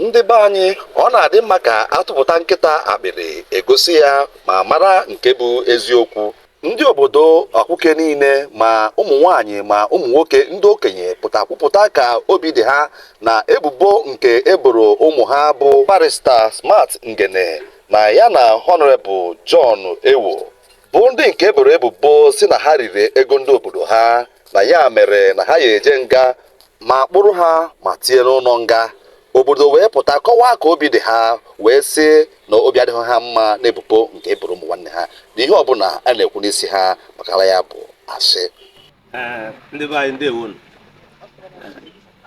ndị be anyị ọ na-adị mma ka atụpụta nkịta akpịrị egosi ya ma mara nke bụ eziokwu ndị obodo akwụke niile ma ụmụ nwanyị ma ụmụ nwoke ndị okenye pụta kwupụta ka obi dị ha na ebubo nke eboro ụmụ ha bụ barrister smart ngene na ya na honorable john ewoh bụ ndị nke eboro ebubo si na ha riri ego ndị obodo ha na ya mere na ha ya eje nga ma kpụrụ ha ma tie n'ụlọ nga obodo wee pụta kọwaa ka obi dị ha wee sị na obi adịghị ha mma n'ebubo nke eboro ụmụ nwanne ha na ihe ọbụla a na-ekwu n'isi ha makara ya bụ asị ndị be anyị ndewonu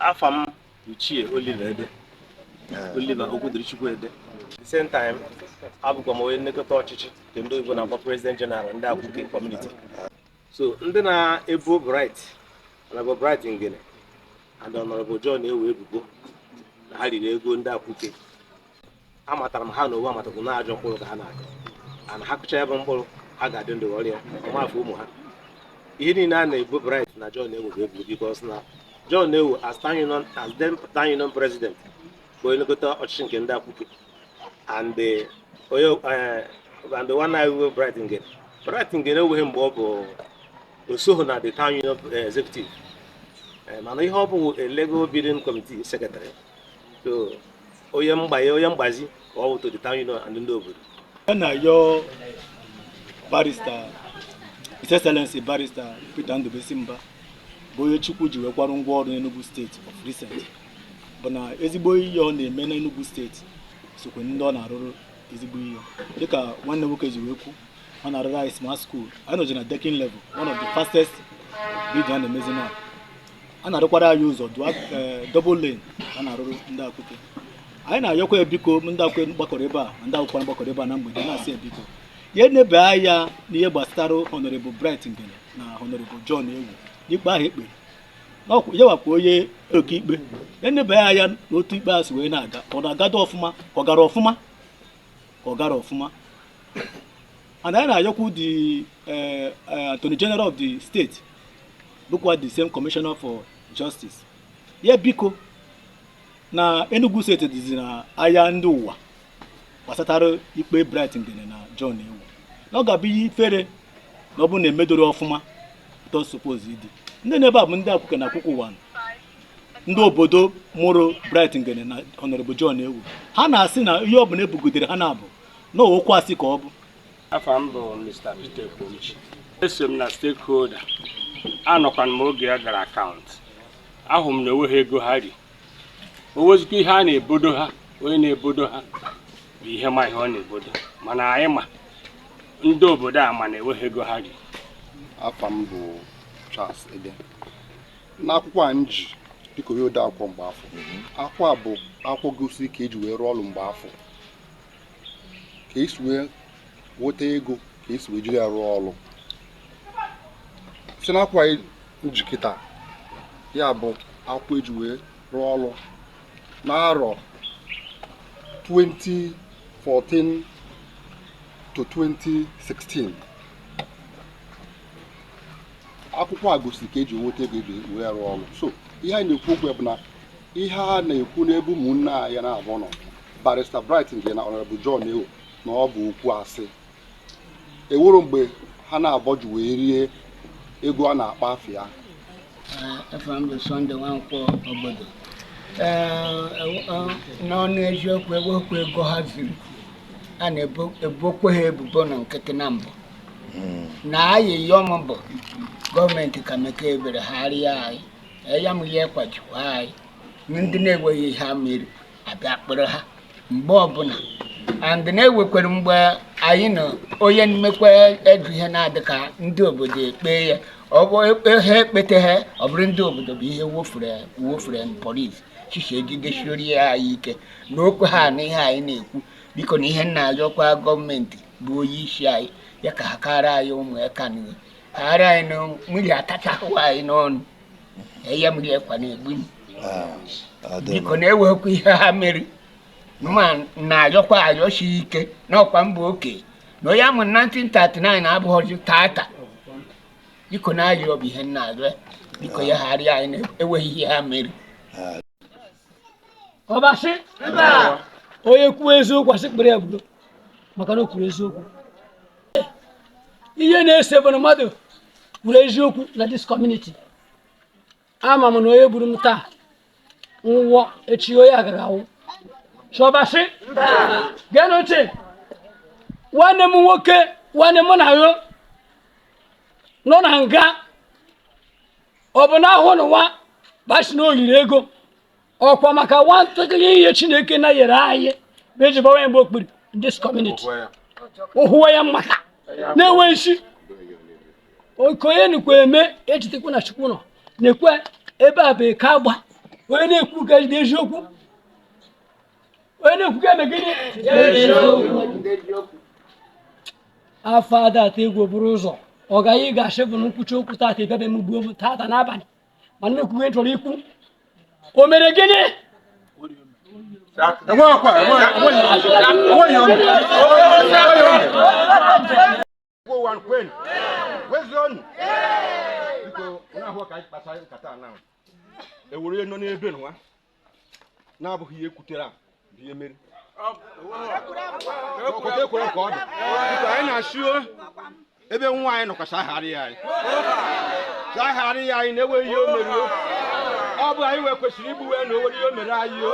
afa m Ichie Oliver Ede Oliver Okwudirichukwu Ede the same time abụkwa m onye nlekọta ọchịchị nke ndị oyibo na-akpọ president general ndị akwụke community so ndị na-ebo bright honorable bright ngene and honorable john ewoh ebubo na ha riri ego ndị akwụke amatara m ha na owu amatakwu na ajọ mkpụrụ ka ha na-akụ ana ha kụcha ya bụ mkpụrụ ha ga-adị ndụ ghọrọ ya ọ ma afọ ụmụ ha ihe niile a na-ebo bright na john ewoh bụ ebubo because na john ewoh as town union as then town union president bụ onye nlekọta ọchịchị nke ndị akwụke and eh, onye eh, and the honorable bright nge bright ngene enweghị mgbe ọ bụ osoghị na the town union eh, executive Eh, mana ihe ọ bụ a legal bidding committee secretary so onye mgbanye onye mgbazi ka ọ bụ to the town union and ndị obodo a na-ayọ barrister His Excellency barrister Peter Ndubisi Mba bụ onye Chukwu ji wee kwara ngwa ọrụ n'Enugu state of recent bụ na ezigbo ihe ọ na-eme n'Enugu state sokwe ndị ọ na-arụrụ ezigbo ihe dịka nwanne nwoke ji wee kwu ọ na-arụrụ anyị smart school anyị nọji na decking level one of the fastest building a na-emezi na a na-arụkwara anyị ụzọ dua ee double lane a na-arụrụ ndị akwụke anyị na-ayọkwa ya biko ndị akwụke gbakọrọ ebe a ma ndị akwụke gbakọrọ ebe a na mgbede na-asị ya biko ya enebe anya n'ihe gbasara honorable bright ngene na honorable john ewoh n'ikpe ahụ ekpere n'ọkwa ya gwakwa onye oke ikpe ya enebe anya n'otu ikpe a si wee na-aga ọ na-agado ọfụma ka ọ gara ọfụma ka ọ gara ọfụma and anyị na-ayọkwu the eh, eh, attorney general of the state bụkwa the same commissioner for justice ya biko na Enugu state dịzi na anya ndị ụwa gbasatara ikpe Bright Ngene na John Ewoh na ọ ga-abụ ihe ifere na ọ bụrụ na emedoro ọfụma otu o suppose ịdị ndị nọ ebe a bụ ndị Akwụke na Akwụke Ụwanị ndị obodo mụrụ Bright Ngene na Honorable John Ewoh ha na-asị na ihe ọ bụla ebogidere ha na-abụ na okwu asị ka ọ bụ afa m bụ Mr. Peter Ekwomchi eso m na stakeholder anọkwana m oge a gara akaụntụ ahụ m na enweghị ego ha ri o wezikwa ihe a na-ebodo ha onye na-ebodo ha bụ ihe ma ihe ọ na-ebodo mana anyị ma ndị obodo a ma na enweghị ego ha ri afa m bụ Charles Ede n'akwụkwọ a m ji dịka onye ode akwụkwọ mgbe afụ akwụkwọ a bụ akwụkwọ gosi ka eji wee rụọ ọrụ mgbe afụ ka esi wee nweta ego ka esi wee jiri ya rụọ ọrụ si n'akwụkwọ a m ji kịta ya bụ akwụkwọ eji wee rụọ ọrụ n'arọ 2014 to 2016 akwụkwọ a gosiri ka eji nweta ego eji wee rụọ ọrụ so ihe anyị na-ekwu okwu ya bụ na ihe a na-ekwu n'ebe ụmụnne anyị naabọ nọ Barrister Bright Ngene na Honorable John Ewoh na ọ bụ okwu asị ewuru mgbe ha naabọ ji wee rie ego a na-akpọ afa ya afa m bụ Sunday Nweke Obodo n'ọnụ eziokwu ewekwa ego ha ziri a na-ebokwa ha ebubo na nkịtị na mbụ hmm. na ayịyọ m bụ gọọmenti ka mekee ebere hara anyị anya mmiri kwachikwa anyị ndị na-enweghị ihe ha mere a bịa kpọrọ ha mgbe ọbụla and na-ewekwere mgbe anyị na onye na-emekwa edu ihe na-adị ka ndị obodo ekpe ya ọ bụ ha ekpete ha ọ bụrụ ndị obodo bụ ihe wofere na polis station ejidesiori ya anyị ike na okwe ha na ihe anyị na-ekwu biko na ihe m na-ayọkwa gọọmenti bụ onye isi anyị ya ka hakara anyị ụmụaka n'ihe hara anyị na mmiri atachahụ anyị n'ọnụ anya mmiri ekwa na-egbu m ah, biko na-ewekwa ihe ha mere ma na-ayọkwa ayọsi ike n'ọkwa m bụ oke na onye amụ 1939 na abụghọzi tata biko na-ayọ bụ ihe m na-ayọ biko ya ghara anyị na-enweghị ihe ha mere ah. ọbasị onye kwuo eziokwu a sị kpere ya budo maka na o kwuru eziokwu ihe na-ese bụ na mmadụ kwuru eziokwu na this community ama m na onye gburu m taa nwụọ echi onye a gaga awụ so ọbasị geenụ ntị nwanne m nwoke nwanne m na yo nọ na nga ọ bụ na ahụ n'ụwa basị na o yiri ego ọkwa maka nwantakịrị ihe chineke na nyere anyị bụ eji gbawa ya mgba okpuru this community ụhụwa ya mmata na-enwe isi okonye nukwu eme ejitekwa na chukwu nọ na-ekwe ebe a bụ eke agba onye na-ekwu ka ejide eziokwu onye na-ekwu ka eme gịnị afọ ada atụ egwu bụrụ ụzọ ọ gaghị ga-asị bụ na m kwuchaa okwu tata ebe m gbuo m tata n'abalị mana ihe m kwuwe chọrọ ikwu o mere gịnị ewere nọ n'ebe nwa na-abụghị ihe e kwutere a bụ ihe mere e kwere ka ọ dị anyị na-asị o ebe nwa anyị nọkwa chegharịa anyị chegharịa anyị na-enweghị ihe o mere o. ọ bụ anyị wee kwesịrị igbu wee na o nwere ihe o mere anyị o